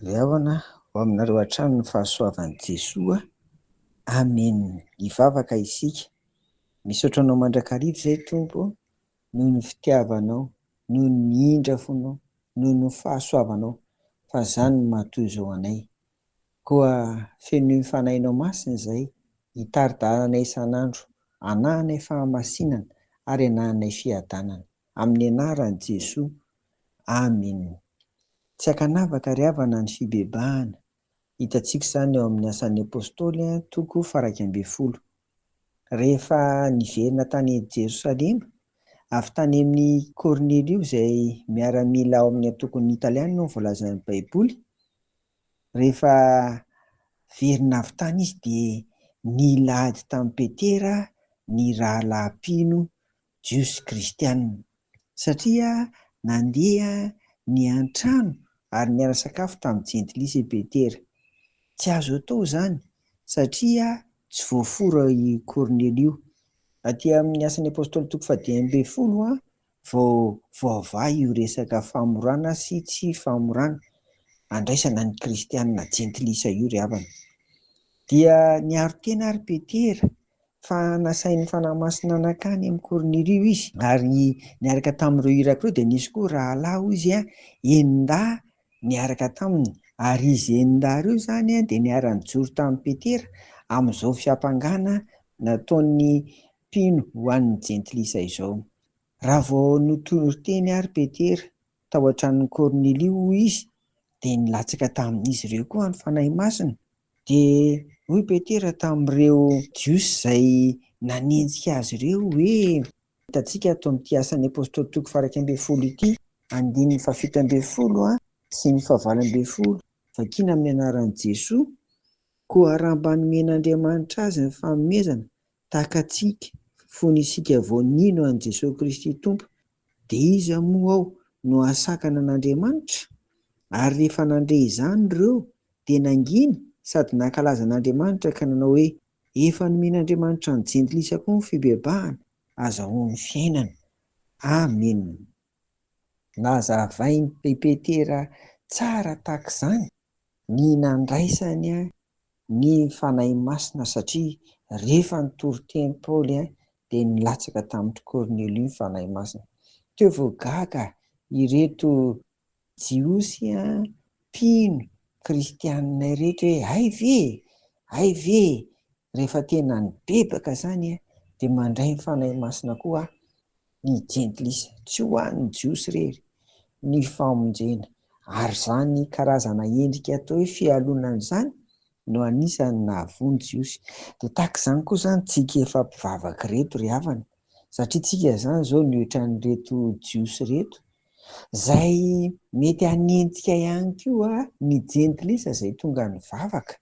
Leavana ho aminareo hatrany ny fahasoavan'i Jesoa. Amen. Hivavaka isika. Misaotra Anao mandrakariva izay Tompo ô, noho ny fitiavanao, noho ny indrafonao, noho ny fahasoavanao, fa izany no maha-toy izao anay. Koa fenoy fanahinao masina izay, hitari-dalana isan'andro, hanahanay fahamasinana ary hanahanay fiadanana. Amin'ny anaran'i Jesoa. Amine. Tsy ankanavaka ry havana ny fibebahana. Hitantsika izany ao amin'ny Asan'ny Apostoly, toko faha iraika ambin'ny folo. rehefa niverina tany Jerosalema, avy tany amin'i Kornelio izay miaramila ao amin'ny antokon'ny Italiana no voalazan'ny Baiboly, rehefa niverina avy tany izy dia nila ady tamin'i Petera ny rahalahy mpino Jiosy kristianina, satria nandeha niantrano ary niara sakafo tamin'ny jentilisa i Petera. Tsy azo atao izany, satria tsy voafora i Kornelio. Aty amin'ny Asan' ny Apôstôly toko fahadimy ambin'ny folo vao voavaha io resaka famorana sy tsy famorana andraisana ny kristianina jentilisa io ry havana. Dia niaro tena àry Petera fa nasain'ny Fanahy Masina nankany amin'i Kornelio izy, ary niaraka tamin'ireo iraka ireo dia nisy koa rahalahy, hoy izy, enin-dahy niaraka taminy, ary izy enin-dahy ireo izany dia niara-nijoro tamin'i Petera amin'izao fiampangana nataon'ny mpino ho an'ny Jentilisa izao. Raha vao notoriteny àry Petera tao an-tranon'i Kornelio, hoy izy, dia nilatsaka tamin'izy ireo koa ny Fanahy Masina, Dia hoy Petera tamin'ireo Jiosy izay nanenjika azy ireo hoe. Hitantsika ato amin'ity Asan'ny Apostoly toko faharaika ambin'ny folo ity, andininy fahafito ambin'ny folo sy ny fahavalo ambin'ny folo, vakiana amin'ny anaran'i Jesoa, Koa raha mba nomen'Andriamanitra azy ny fanomezana Takatsika fony isika vao nino an'i Jesoa Kristy Tompo dia iza moa ao no hahasakana an'Andriamanitra? Ary rehefa nandre izany ireo dia nangina sady nankalaza an'Andriamanitra ka nanao hoe, Efa nomen'Andriamanitra ny jentilisa koa ny fibebahana, azahoany fiainana. Amena. Nazavain'i Pepetera tsara tahak'izany ny nandraisany ny Fanahy Masina satria rehefa nitory teny Paoly dia nilatsaka tamin-dry Kornelio ny Fanahy Masina. Teo vao gaga ireto Jiosy a, mpino, kristianina ireto hoe hay ve e! hay ve e! rehefa tena nibebaka izany a, dia mandray ny Fanahy Masina koa ny jentilisa, tsy ho an'ny Jiosy irery ny famonjena, ary izany karazana endrika atao hoe fialonana izany no anisan'ny nahavoa ny Jiosy. Dia tahaka izany koa izany tsika efa mpivavaka ireto ry havana, satria tsika izany izao ny ohatran'ireto Jiosy ireto Izay mety hanenjika ihany koa ny jentilisa izay tonga nivavaka.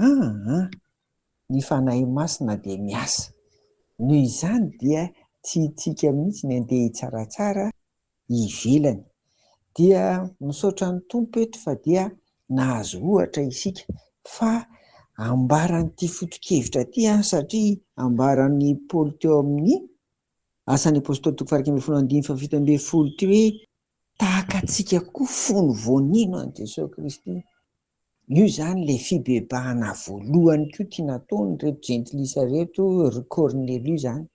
Aa! Ny Fanahy Masina dia miasa. Noho izany dia tiantsika mihitsy ny handeha hitsaratsara ivelany. Dia misaotra ny Tompo eto fa dia nahazo ohatra isika fa ambaran'ity foto-kevitra ity an satria ambaran'i Paoly teo amin'ny Asan'ny Apôstôly toko faha iraika ambin'ny folo andininy faha fito ambin'ny folo ity hoe, Tahaka antsika koa fony vao nino an'i Jesoa Kristy. Io izany ilay fibebahana voalohany koa tia nataon'ireto jentilisa ireto ry Kornelio izany.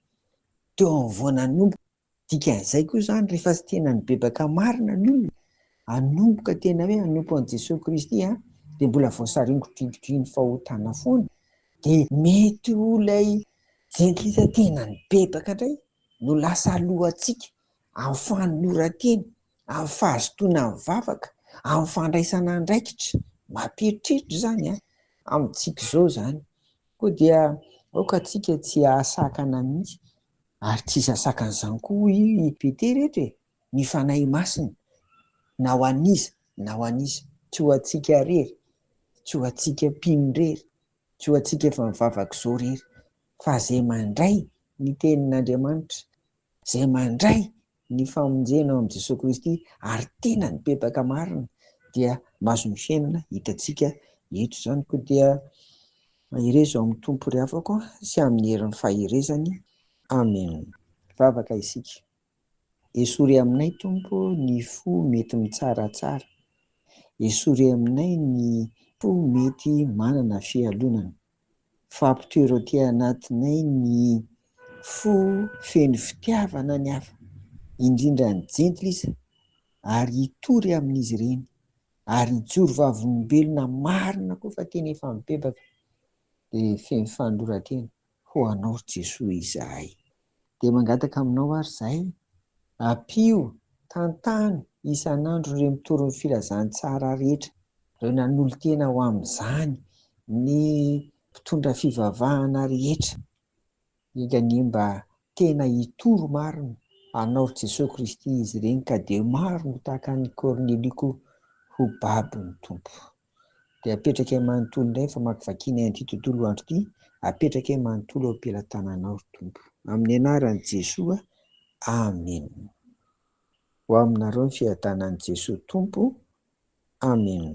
Teo amin'ny vao nanomboka, dikan'izay koa izany rehefa tsy tena nibebaka marina ny olona, hanomboka tena hoe hanompo an'i Jesoa Kristy an, dia mbola voasaringodringodrin'ny fahotana foana, dia mety ho ilay Jentilisa tena nibebaka indray no lasa alohantsika amin'ny fanoloran-tena, amin'ny fahazotoana ny vavaka, amin'ny fandraisana andraikitra. Mampiheritreritra izany an! Amintsika izao izany. Koa dia aoka tsika tsy hahasakana mihitsy, ary tsy sasakana izany koa hoy i Petera eto e! ny Fanahy Masina, na ho an'iza na ho an'iza, tsy ho antsika irery, tsy ho antsika mpino irery, Tsy ho antsika efa mivavaka izao irery, fa izay mandray ny Tenin'Andriamanitra, izay mandray ny famonjena ao amin'i Jesoa Kristy ary tena nibebaka marina dia mahazo ny fiainana hitantsika eto izany. Koa dia mahereza ao amin'ny Tompo ry havako sy amin'ny herin'ny faherezany. Amena. Hivavaka isika. Esory aminay Tompo ny fo mety mitsaratsara, esory aminay ny fo mety manana fialonana, fa ampitoero aty anatinay ny fo feno fitiavana ny hafa, indrindra ny jentilisa, ary hitory amin'izy ireny, ary hijoro vavolombelona marina koa fa tena efa mibebaka dia feno fanoloran-tena. Ho Anao ry Jesoa izahay. Dia mangataka Aminao ary izahay, ampio, tantano isan'andro ireo mitory ny filazantsara rehetra, ireo nanolo-tena ho amin'izany, ny mpitondra fivavahana rehetra, indrindra anie mba tena hitory marina Anao ry Jesoa Kristy izy ireny ka dia maro no tahaka an'i Kornelio koa ho babon'ny Tompo. dia apetraka eo manontolo indray ny famakivakiana an'ity tontolo andro ity, apetraka eo manontolo eo am-pelatananao ry Tompo. Amin'ny anaran'i Jesoa, Amen. Ho aminareo ny fiadanan'i Jesoa Tompo, Amen.